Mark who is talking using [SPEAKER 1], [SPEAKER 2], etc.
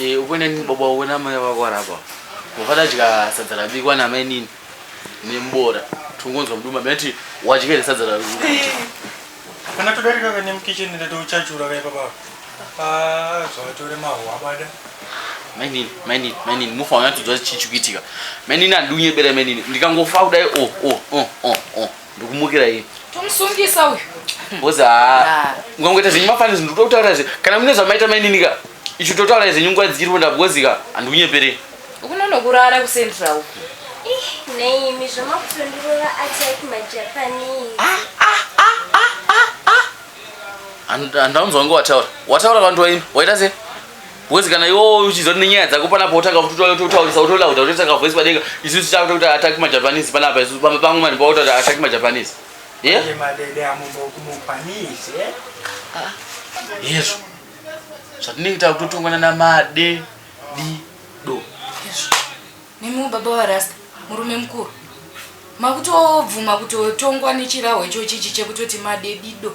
[SPEAKER 1] Eh, uko neni baba wako namai vako vari apa wakadadya sadza rabikwa namai nini nemubora tongonzwa muduma mati wadya here sadza rarukuti kana
[SPEAKER 2] todarika kane mukitchen ndatouchachura kaipa baba Ah, zvatore mahwabada mai nini mai nini mai nini mufa wanyatsodzwa chii chikuitika mai nini andiunyebera mai nini ndikangofa kudai o o o o o Ndikumukira iyi. Tomusungisa uyu.
[SPEAKER 3] Boza. Ah.
[SPEAKER 1] Ngongoita zvenyu mafanisi ndikuda kutaura zve. Kana mune zvamaita mainini ka. Ichi totaura zvenyu nguva dziri wenda bozi ka. Andikunyeperei. Ukunono kurara
[SPEAKER 3] ku central. Ih, nei
[SPEAKER 4] imi zvamakutondirova attack ma Japanese.
[SPEAKER 1] Ah, ah, ah, ah, ah, ah. Andaunzwa ngowataura. Wataura vantu waini. Waita sei? Wezi kana iwo uchiziva kuti nenyaya dzako panapo wotanga kutaurisa wotolauda wotoisa kavoice padenga isu tichaakuta kuti ataki majapanese panapa isu pamba pangu mani paota kuti ataki majapanese ye madede
[SPEAKER 2] amumbokumukwanise
[SPEAKER 1] ah. yesu zvatinenge takutotongwana namade di do
[SPEAKER 3] yesu nemiwo baba warasta murume mukuru makutobvuma kutotongwa nechiraho ichochichi chekutoti madedido